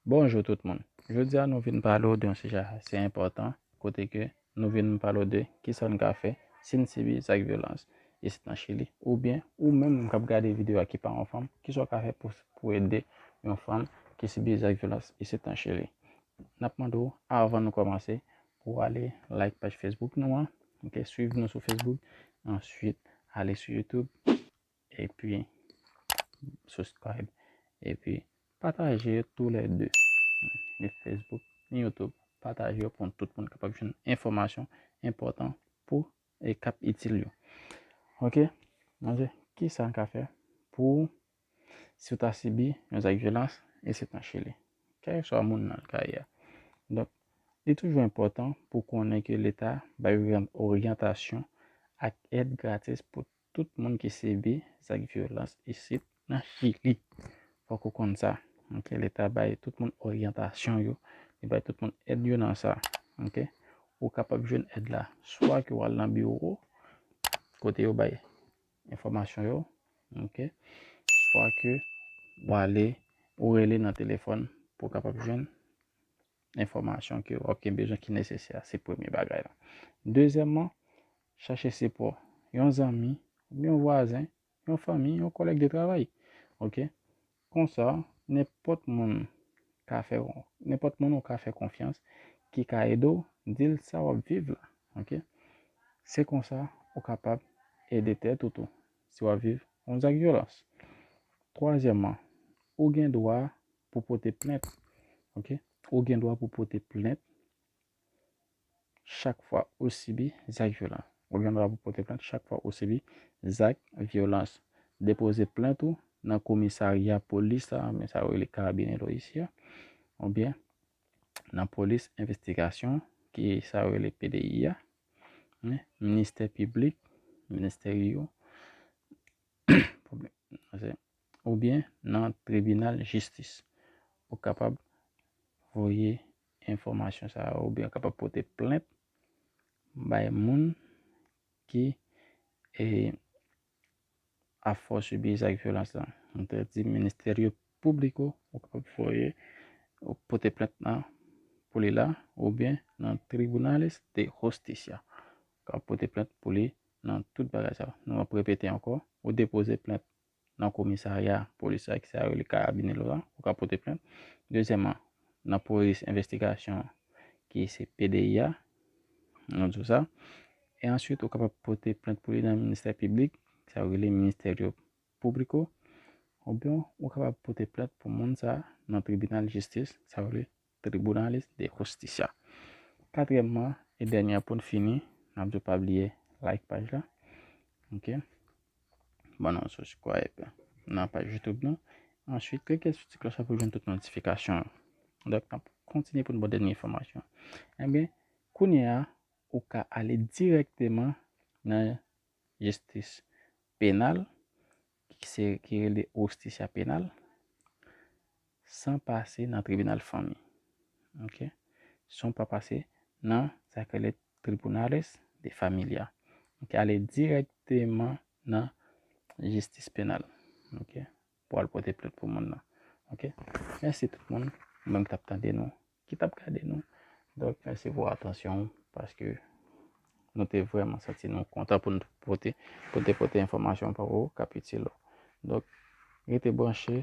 Bonjou tout moun, jodi a nou vin pale w de yon sijè ase enpòtan kote ke nou vin pale w de kisa n ka fè si n sibi zak vyolans isit nan Chili oubyen ou menm k ap gade videyo a ki pa yon fanm kisa w ka fè pou w ede yon fanm ki sibi zak vyolans isit nan Chili. N ap mande w avan nou kòmanse pou w ale like paj Facebook nou an, ok, swiv nou sou Facebook, answit ale sou YouTube, Epi subscribe. Epi pataje yo tou le 2. Ni Facebook, ni YouTube. Pataje yo pou tout moun kapab jwenn enfomasyon enpotan pou e kap itil yo. Ok. Mwen se ki sa an ka fe pou si ou ta sibi yon zak vyolans e se tan chile. Kèk sou a moun nan ka ya. Donk, li toujou enpotan pou konnen ke leta bay yon oryantasyon ak ed gratis pou Tout moun ki sibi zak vyolans isit nan Chili fòk ou konn sa ok leta bay tout moun oryantasyon yo li bay tout moun èd yo nan sa ok ou kapab jwenn èd la swa ke wal nan biwo kote yo bay enfòmasyon yo ok swa ke wale ou rele nan telefòn pou kapab jwenn enfòmasyon ke wap gen bezwen ki nesesè a, se premye bagay la. Dezyèmman, chache sipò yon zanmi, yon vwazen, yon fanmi, yon kòlèg de travay. Ok. Konsa, nenpòt moun ka fè w, nenpòt moun ou ka fè konfyans ki ka ede w, di l sa wap viv la. Ok. Se konsa ou kapab ede tèt ou tou, si wap viv yon zak vyolans. Twazyèmman, ou gen dwa pou pote plent. Ok. Ou gen dwa pou pote plent chak fwa ou sibi zak vyolan. Ou gen dwa pou pote plent chak fwa ou sibi zak vyolans. Depoze plent ou nan komisarya polis la, men sa yo rele karabine lo isi a, ou byen nan polis envestigasyon ki sa yo rele PDI a, ministè piblik, ministè yo, oubyen nan tribinal jistis. Ou kapab voye enfòmasyon sa yo oubyen ou kapab pote plent bay moun ki ap fè w sibi zak vyolans la. Mwen te di Ministerio Público, ou kapab voye, ou pote plent nan pou li la oubyen nan Tribunales de Justicia. Ou kapab pote plent pou li nan tout bagay sa yo. Nou ap repete ankò, ou depoze plent nan komisarya polis la ki sa yo rele karabine lo a, ou ka pote plent. Dezyèman, nan polis envestigasyon ki se PDI a, nou di w sa. E answit ou kapab pote plent pou li nan ministè piblik, ki sa yo rele Ministerio Público, oubyen ou kapab pote plent pou moun sa nan tribinal jistis, sa yo rele Tribunales de Justicia. Katriyèmman e dènye an poun fini, nap diw pa bliye like paj la. Ok. Ban nou subscribe nan paj YouTube nou. Answit klike sou ti kloch la pou jwenn tout notifikasyon yo. Dok nap kontinye poun baw dènye enfòmasyon. Enben, kounye a ou ka ale dirèkteman nan jistis penal se ki rele Justicia Penal, san pase nan tribinal fanmi. Ok. San pa pase nan sa ki rele Tribunales de Familia. Ok. Ale direkteman nan jistis penal. Ok. Pou al pote plent pou moun nan. Ok. Mèsi tout moun. Mwen m t ap tande nou. ki tap gade nou. Donk mèsi pou atansyon ou paske nou te vreman santi nou kontan pou nou pote pou te pote enfòmasyon pou ou kap itil ou. Donk rete branche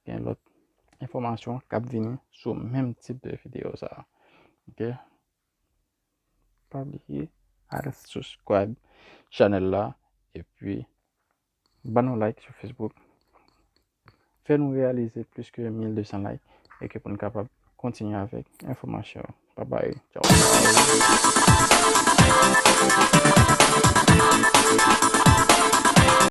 gen lòt enfòmasyon kap vini sou menm tip de videyo sa. Ok pa bliye al subscribe chanèl la epi Ban nou like sou Facebook. Fè nou reyalize plis ke 1200 like e ke pou nou kapab kontinye avèk enfòmasyon yo. Bye bye. Ciao.